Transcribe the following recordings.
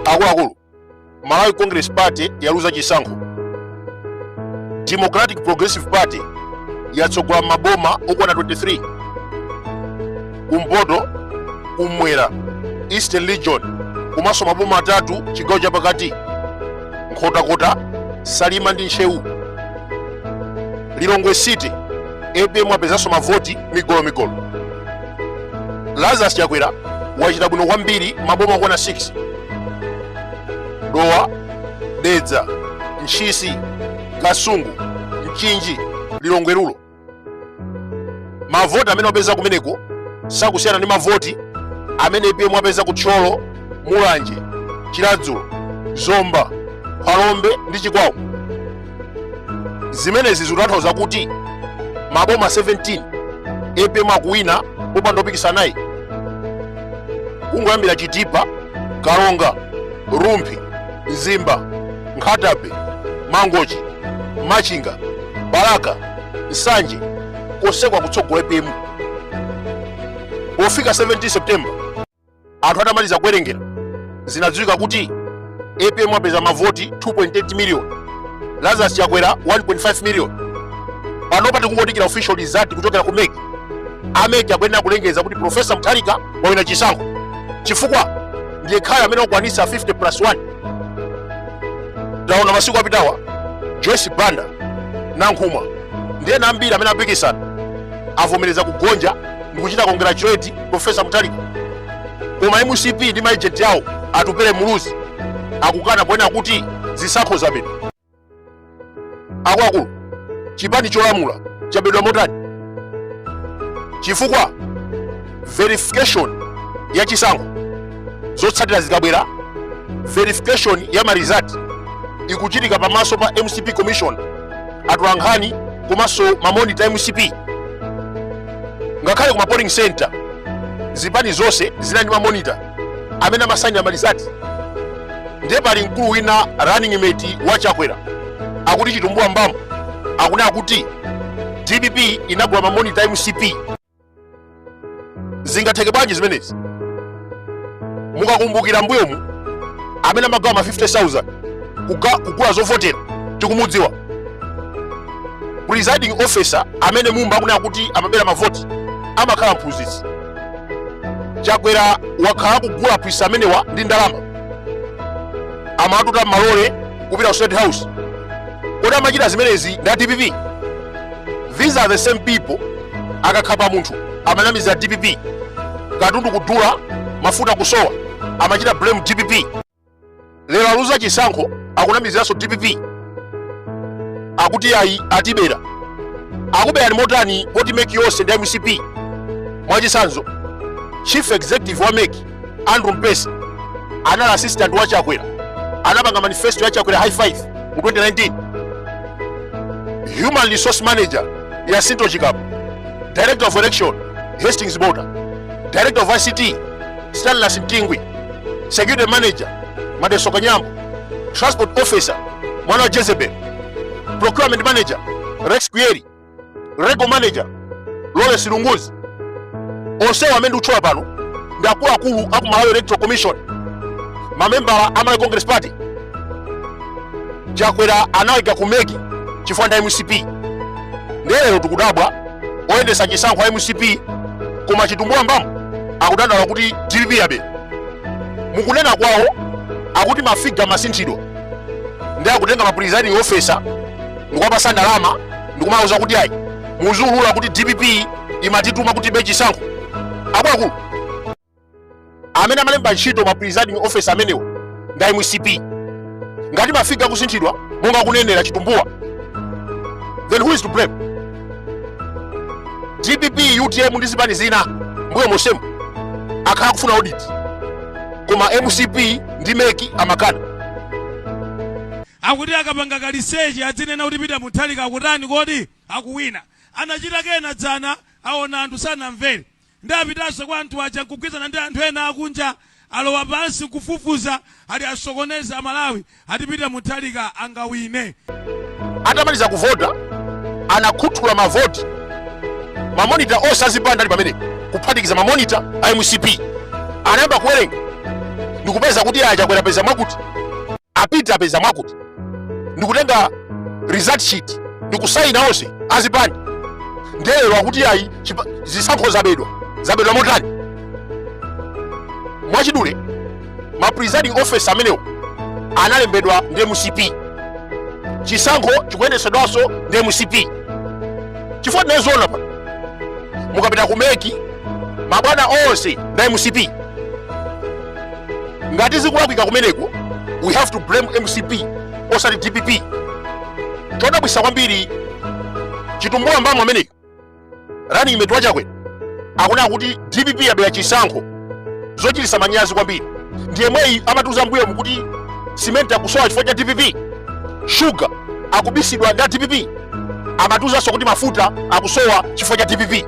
akuluakulu malawi congress party yaluza chisankho democratic progressive party yatsogola maboma okwana 23 kumpoto kumwera eastern region komanso maboma atatu chigawo chapakati nkhotakota salima ndi ntcheu lilongwe city apm apezanso mavoti migolomigolo lazarus chakwera wachita bwino kwambiri maboma okwana 6 dowa dedza ntchisi kasungu mchinji lilongwe rural mavoti amene wapeza kumeneko sakusiyana ndi mavoti amene apm wapeza ku thyolo mulanje chiradzulu zomba phalombe ndi chikwawa zimenezi zikutanthauza kuti maboma 17 apm akuwina popanda opikisana naye kungoyambira chitipa karonga rumphi mzimba nkhata bay mangochi machinga balaka nsanje konseko akutsogola apm pofika 17 september anthu atamaliza kuwerengera zinadziwika kuti apm apeza mavoti 2.8 million lazarus chakwera 1.5 million panopa tikungodikira official result kuchokera ku mec a mec akuyenera kulengeza kuti profesa mutharika wawina chisankho chifukwa ndi yekhayo amene wakwanitsa 50 plus 1 taona masiku apitawa joyce banda nankhumwa ndi ena ambiri amene apikisana avomereza kugonja ndi kuchita congratulate profesa mutharika koma mcp ndi ma agent awo atupele muluzi akukana ponena kuti zisankho zabedwa akuluakulu chipani cholamula chabedwa motani chifukwa verification ya chisankho zotsatira zikabwera verification ya ma result ikuchitika pamaso pa mcp commission atolankhani komanso mamonita a mcp ngakhale ku ma polling center zipani zonse zinali ndi mamonita amene amasainira ma result ndiye pali mkulu wina running mate wa chakwera akuti chitumbuwa mbamu akunena kuti dpp inagula mamonita a mcp zingatheke bwanji zimenezi mukakumbukira mbuyomu amene amagawa ma 50000 kuga- kugula zovotera tikumudziwa presiding officer amene mumba akunena kuti amabera mavoti amakhala mphunzitsi chakwera wakhala akugula aphunzitsi amenewa ndi ndalama amawatuta m'malole kupita ku state house kodi amachita zimenezi ndi a dpp these are the same people akakhapa munthu amanamizira dpp katundu kudula mafuta kusowa amachita blame dpp lero aluza chisankho akunamiziranso dpp akuti ayi atibera akuberani motani poti meki yonse ndi mcp mwachisanzo chief executive wa meki andrew mpesi anali assistant wa chakwera anapanga manifesto ya chakwera high five mu 2019 human resource manager ya sinto chikapo director of election hastings bota director of ict stanlas mtingwi security manager madeso kanyambo transport officer mwana wa jezebel procurement manager rex kuyeri legal manager lawrence lunguzi onsewo amene ndikutchula pano ndi akuluakulu aku malawi electoral commission mamembala a malawi congress party chakwera anawaika kumeki chifukwa ndi a mcp ndiye lero tikudabwa oyendesa chisankho a mcp koma chitumbuwa mbamu akudandaula kuti dpp yaba mukunena kwawo akuti mafiga amasinthidwa nde akutenga ma presiding officer ndikuwapasa ndalama ndikumawauza kuti ayi muziulula kuti dpp imatituma kuti tibe chisankho akuluakulu amene amalemba ntchito ma presiding officer amenewo ndi a mcp ngati mafiga akusinthidwa monga akunenera chitumbuwa then who is to blame dpp utm ndi zipani zina mbuyo monsemu akhala akufuna audit koma mcp ndi meki amakana Akuti akapanga kaliseche adzinena kuti Peter Mutharika akutani kodi? Akuwina. Anachita kena dzana aona anthu sanamvere nde apitanso kwa anthu aja nkugwirizana ndi anthu ena akunja alowa pansi nkufufuza ati asokoneze amalawi ati Peter Mutharika angawine. Atamaliza kuvota anakhuthula mavoti ma monitor onse azipani ali pamenepo kuphatikiza ma monitor a mcp anayamba kuwerenga ndikupeza kuti ayi a Chakwera apeza mwakuti a peter apeza mwakuti ndikutenga result sheet ndikusayina onse azipani nde lero akuti ayi chipa- zisankho zabedwa zabedwa motani mwachidule ma presiding officer amenewo analembedwa ndi mcp chisankho chikuyendesedwanso ndi mcp chifukwa tinaziona paja mukapita kumeki mabwana onse ndi a mcp ngati zikulakwika kumeneko we have to blame mcp osati dpp chodabwisa kwambiri chitumbuwa mbamu ameneyo running mate wa chakwera akunena kuti dpp yabera chisankho zochitisa manyazi kwambiri ndi yemweyu amatiuza mbuyomu kuti simenti akusowa chifukwa cha dpp shuga akubisidwa ndi a dpp amatiuzanso kuti mafuta akusowa chifukwa cha dpp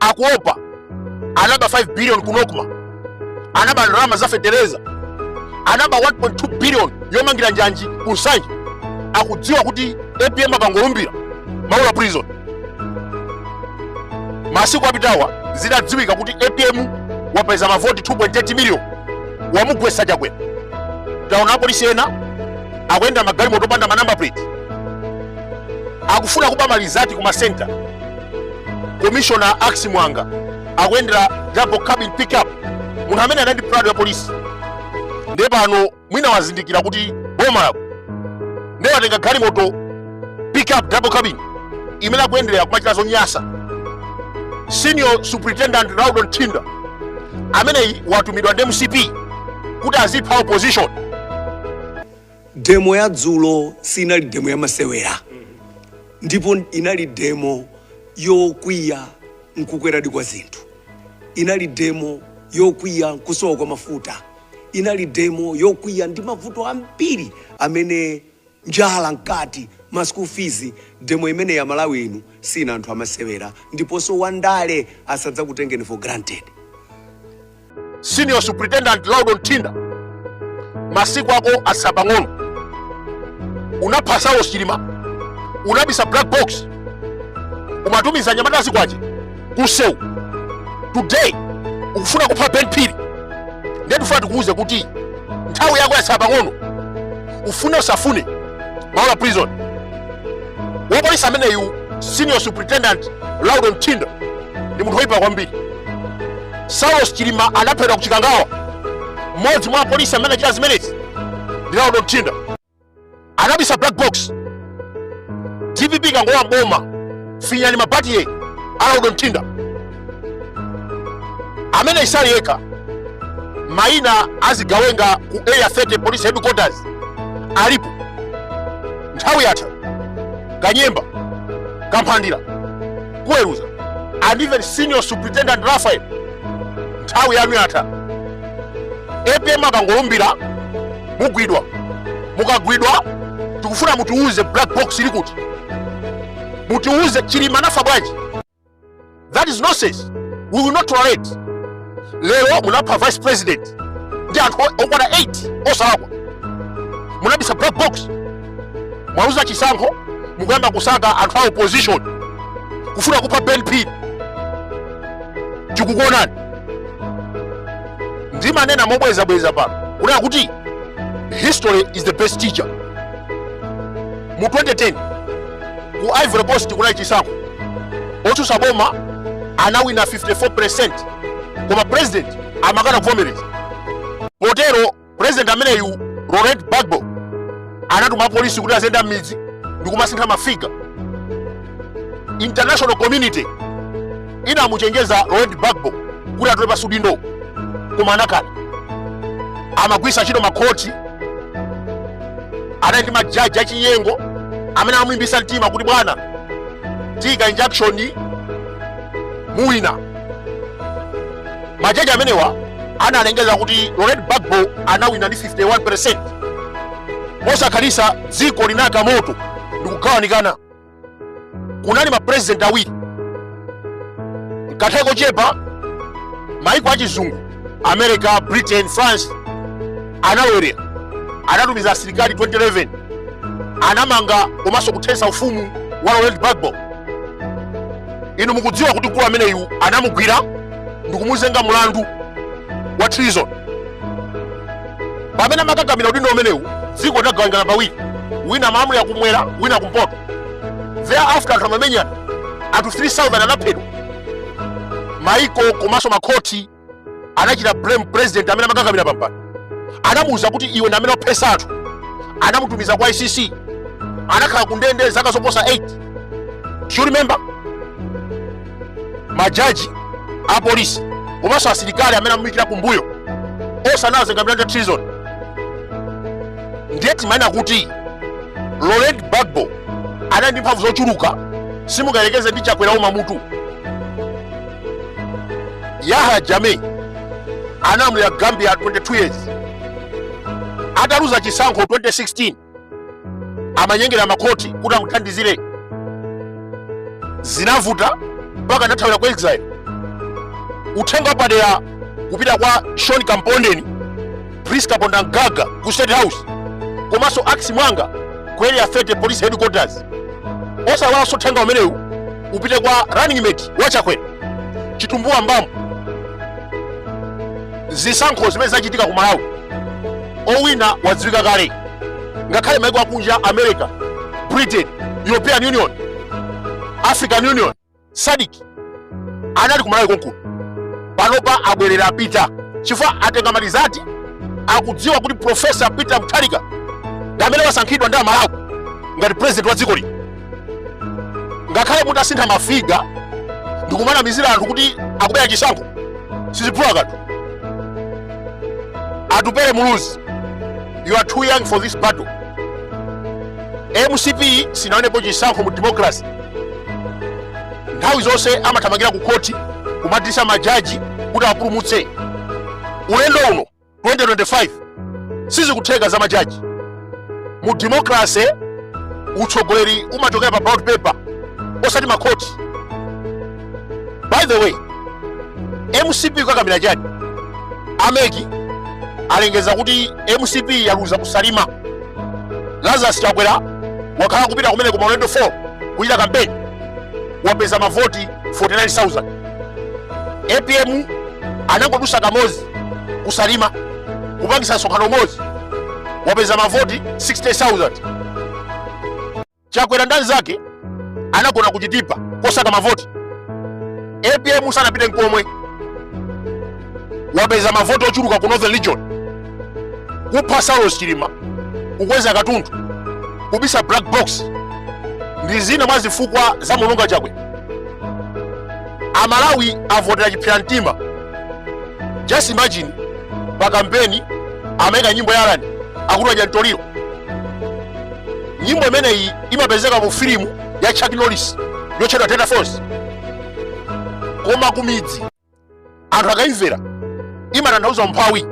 akuopa anaba 5 billion ku nocma anaba ndalama za fetereza anaba 1.2 billion yomangira njanji ku nsanje akudziwa kuti apm akangolumbira maula prison masiku apitawa zidadziwika kuti apm wapeza mavoti 2.8 million wamugwesa chakwera taona apolisi ena akuyenda magalimoto opanda ma number plate akufuna kuba ma result ku ma center commissioner axi mwanga akuyendera double cabin pickup munthu amene anali ndi prado ya polisi ndiye pano mwina wazindikira kuti boma lagwa ndiye watenga galimoto pickup double cabin imene akuyenderera kumachita zonyasa senior superintendent laudon thinda ameneyi watumidwa ndi mcp kuti azipha opposition Demo ya dzulo sinali demo ya masewera ndipo inali demo yokwiya nkukwera di kwa zinthu, inali demo yokwiya nkusowa kwa mafuta, inali demo yokwiya ndi mavuto ambiri amene njala mkati, ma school fees, demo imeneyi amalawi inu sindinu anthu amasewera ndiponso wandale asadzakutengeni for granted. senior superintendent Laudon Thinda masiku ako atsala pang'ono unapha Saulos Chilima unabisa black box umatumiza anyamata azikwanje kunsewu today ukufuna kupha Ben Phiri ndiye tifuna tikuwuze kuti nthawi yako yatsala pang'ono ufune usafune Maula prison wapolisi ameneyu senior superintendent Laudon Thinda ndi munthu woyipa kwambiri Saulos Chilima anaphedwa ku Chikangawa. Mmodzi mwa apolisi amene anachita zimenezi ndi Laudon Thinda anabisa black box. DPP ikangolowa mboma finyani mabatire a Laudon Thinda amene sali yekha maina azigawenga ku area 30 police headquarters alipo nthawi yatha kanyemba kamphandira kuweruza and even senior superintendent raphael nthawi yanu yatha apm akangolumbira mugwidwa mukagwidwa tikufuna mutiuze black box ili kuti mutiuze chilima anafa bwanji that is nonsense we will not tolerate lero munapha vice president ndi anthu o- okwana 8 osalakwa munabisa black box mwaluza chisankho mukuyamba kusaka anthu a opposition kufuna kupha ben phiri tikukuonani ndimanena mobwezabweza pano kunena kuti history is the best teacher mu 2010 ku ivory coast kunali chisankho otsutsa boma anawina 54% koma president amakana kuvomereza potero president ameneyu laurent gbagbo anatuma polisi kuti aziyenda m'midzi ndi kumasintha mafiga international community inamuchenjeza Laurent Gbagbo kuti atule pansi udindo koma anakana amagwitsa ntchito makhoti anali ndi majaji achinyengo amene amamulimbitsa mtima kuti bwana tiika injunction muwina majaji amenewa analengeza kuti Laurent Gbagbo anawina ndi 51% mosakhalitsa dziko linayaka moto ndikugawanikana kunali mapresident awiri mkanthawi kochepa maiko achizungu america britain france analowerera anatumiza asilikali 2011 anamanga komanso kuthetsa ufumu wa laurent gbagbo inu mukudziwa kuti mkulu ameneyu anamugwira ndikumuzenga mulandu wa treason pamene amakakamira udindo umenewu dziko lidagawikana pawiri wina amalamulira kumwera wina akumpoto thereafter anthu amamenyana anthu 3000 anaphedwa maiko komanso makhoti anachita blame president amene amakakamira pampando anamuuza kuti iwe ndi amene waphetsa anthu anamutumiza kwa icc anakhala kundende zaka zoposa 8 do you remember majaji apolisi komanso asilikali amene amamuyikira kumbuyo onse anawazenga milandu ya treason ndiye timanena kuti laurent gbagbo anali ndi mphamvu zochuluka simungayerekeze ndi chakwera uma mutu yahya jammeh analamulira gambia 22 years ataluza chisankho 2016 amanyengera makhoti kuti amuthandizire zinavuta mpaka anathawira ku exile uthenga wapadera kupita kwa sean kampondeni priska pondangaga ku state house komanso ax mwanga ku area 30 police headquarters osaiwalanso uthenga umenewu upite kwa running mate wachakwera chitumbuwa mumba zisankho zimene zachitika ku malawi owina wadziwika kale ngakhale maiko akunja america britain european union african union sadc anali kumalawi konkuno panopa abwerera apita chifukwa atenga malizati akudziwa kuti profesa peter mutharika ndi amene wasankhidwa ndi amalawi ngati president wa dziko lino ngakhale mutasintha mafiga ndikumanamizira anthu kuti akubera chisankho siziphula kanthu atupere muluzi you are too young for this battle mcp sinawinepo chisankho mu democracy nthawi zonse amathamangira ku khoti kukadilisa majaji kuti awapulumutse ulendo uno 2025 sizikutheka za majaji mu democracy utsogoleri umachokera pa ballot paper osati makhoti by the way mcp kukakamira chani a mec alengeza kuti mcp yaluza ku salima lazarus chakwera wakhala kupita kumeneko maulendo 4 kuchita kampeni wapeza mavoti 49000 apm anangodutsa kamodzi ku salima kupangisa msonkhano umodzi wapeza mavoti 60000 chakwera ndi anzake anagona ku chitipa kosaka mavoti apm sanapite nkomwe wapeza mavoti ochuluka ku northern region kupha saulos chilima kukweza katundu kubisa black box ndi zina mwa zifukwa zamuluzitsa chakwera amalawi avotera chipsera mtima just imagine pa kampeni amaika nyimbo ya alan akuti wadya mtoliro nyimbo imeneyi imapezeka mu filimu ya chuck norris yotchedwa delta force koma kumidzi anthu akayimvera imatanthauza umphawi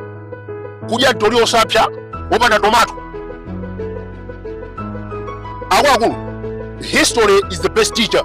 kudya mtoliro wosapsa wopanda tomato akuluakulu history is the best teacher